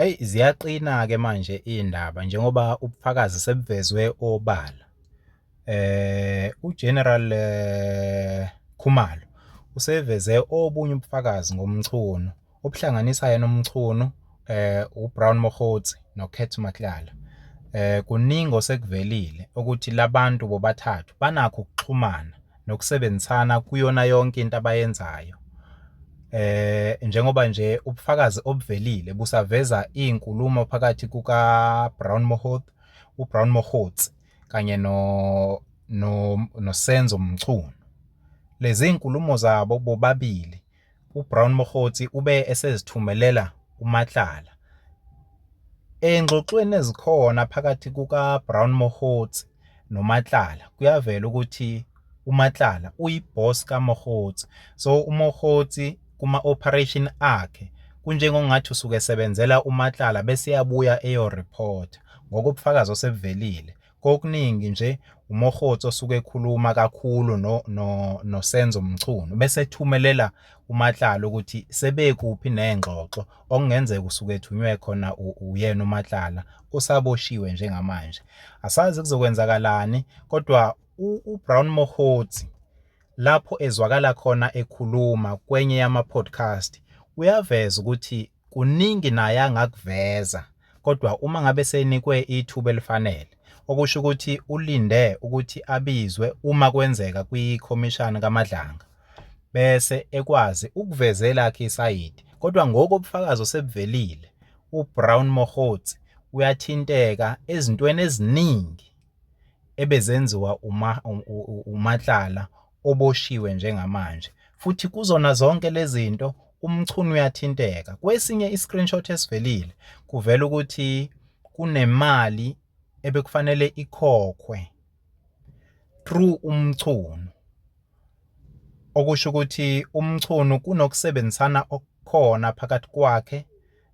Eyi ziyaqina-ke manje iy'ndaba njengoba ubufakazi sebuvezwe obala. UGeneral Khumalo useveze obunye ubufakazi ngoMchunu obuhlanganisa yena uMchunu, uBrown Mokgotsi noKurt Matlala. Kuningi osekuvelile ukuthi la bantu bobathathu banakho ukuxhumana. nokusebenzisana kuyona yonke into abayenzayo. Eh njengoba nje ubufakazi obuvelile busaveza izinkulumo phakathi kuka Brown Mohoth, uBrown Mohotsi kanye no no noSenzo Mchunu. Lezi zinkulumo zabo bobabili UBrown Mokgotsi ube esezithumelela uMatlala. Engxoxweni ezikhona phakathi kukaBrown Mokgotsi noMatlala kuyavela ukuthi uMatlala uyiboss kaMokgotsi. So uMokgotsi kuma-operation akhe kunjengongathi usuke esebenzela uMatlala bese eyabuya eyoreport ngokobufakazi osebuvelile kokuningi nje uMokgotsi osuke ekhuluma kakhulu noSenzo Mchunu bese ethumelela uMatlala ukuthi sebekuphi ney'ngxoxo okungenzeka usuke ethunywe khona uyena uMatlala usaboshiwe njengamanje. Asazi kuzokwenzakalani kodwa uBrown Mokgotsi lapho ezwakala khona ekhuluma kwenye yama-podcast uyaveza ukuthi Kuningi naye angakuveza kodwa uma ngabe senikwe ithuba elifanele okusho ukuthi ulinde ukuthi abizwe uma kwenzeka kwikhomishana kaMadlanga bese ekwazi ukuveza elakhe isayidi kodwa ngoku ubufakazi osebuvelile uBrown Mogotsi uyathinteka ezintweni eziningi ebezenziwa uMatlala oboshiwe njengamanje, futhi kuzona zonke lezi zinto uMchunu uyathinteka. Kwesinye i-screenshot esivelile kuvela ukuthi kunemali ebekufanele ikhokhwe through uMchunu okusho ukuthi uMchunu kunokusebenzisana okukhona phakathi kwakhe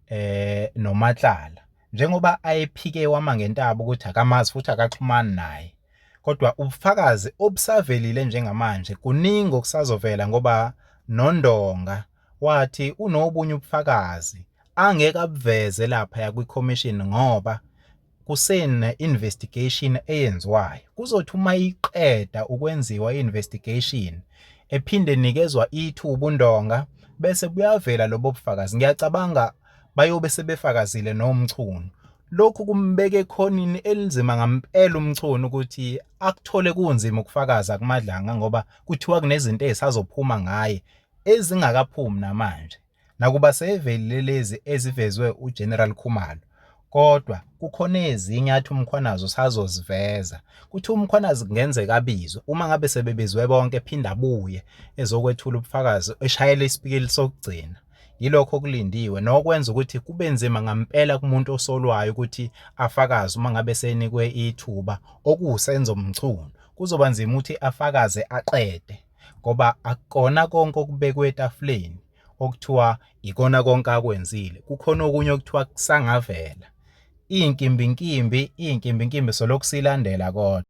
eh noMatlala njengoba ayephike wama ngentaba ukuthi akamazi futhi akaxhumani naye kodwa ubufakazi obusavelile njengamanje kuningi okusazovela ngoba noNdonga wathi unobunye ubufakazi angeke abuveze lapha yakwiCommission ngoba kusene investigation eyenziwayo kuzothi uma iqeda ukwenziwa investigation ephinde nikezwa ithuba undonga bese buyavela lobo bufakazi ngiyacabanga bayobe sebefakazile nomchunu lokhu kumbeka ekhonini elinzima ngampela umchunu ukuthi akuthole kunzima ukufakaza kumadlanga ngoba kuthiwa kunezinto ezisazophuma ngaye ezingakaphumi namanje Nakuba seyivelile lezi ezivezwe uGeneral Khumalo kodwa kukhona ezinye athi uMkhwanazi usazoziveza kuthi uMkhwanazi kungenzeka abizwe uma ngabe sebebizwe bonke phinde abuye ezokwethula ubufakazi eshayela isipikili sokugcina yilokho okulindiwe nokwenza ukuthi kube nzima ngampela kumuntu osolwayo ukuthi afakaze uma ngabe senikwe ithuba okuwusenzo mchunu kuzoba nzima ukuthi afakaze aqede ngoba akukona konke okubekwe etafuleni okuthiwa ikona konke akwenzile kukhona okunye okuthiwa kusangavela iy'nkimbinkimbi iy'nkimbinkimbi solokhu silandela kodwa.